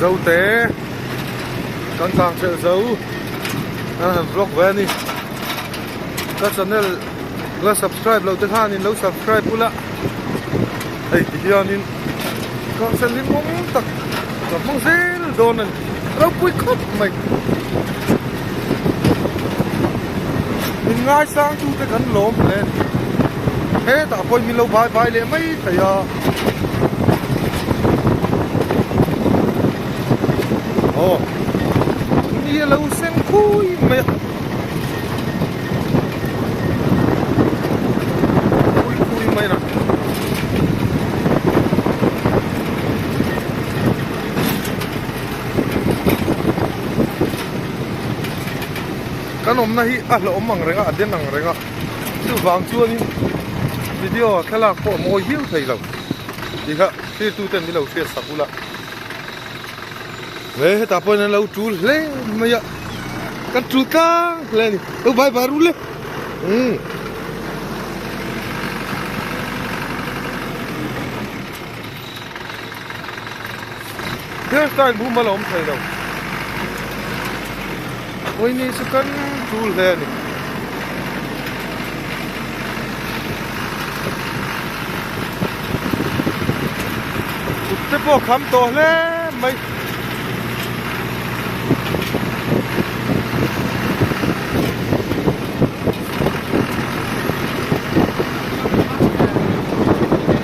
Zote kan tlang ṭheh zo a han vlog ve a ni ka channel la subscribe lo te khanin lo subscribe ula hei ti hianin ka hre hlim mawm tak ka hmang zel dawn a ni a lo pui khawp mai min ngaisang tute kan lawm hle a ni hetah pawhin min lo vai vai leh mai thei a. aw ni a lo seng khui mai a khui khui mai a kan awmna hi a hlawm ang reng a a den ang reng a. Chuvang chuanin video thlalak pawh a mawi hiu theilo tih kha thirtute an lo hriat sak ula he heta pawhin an lo tul hle mai a kan tul tlang hle a ni lo bai bai rul le um Hair style bum ala awm thei lo. Oini chu kan chul hle a ni. Kut te pawh kham tawh hle mai.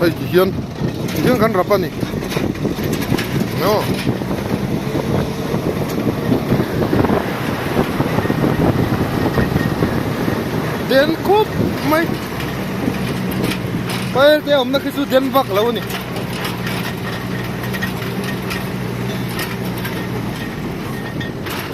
Hei ti hian ti hian kan rap a ni aw den khawp mai file te awmna khi chu den vak lo a ni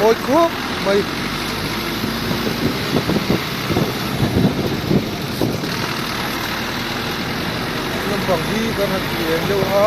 mawi khawp mai. Lampang hi kan han ti eng deuh a.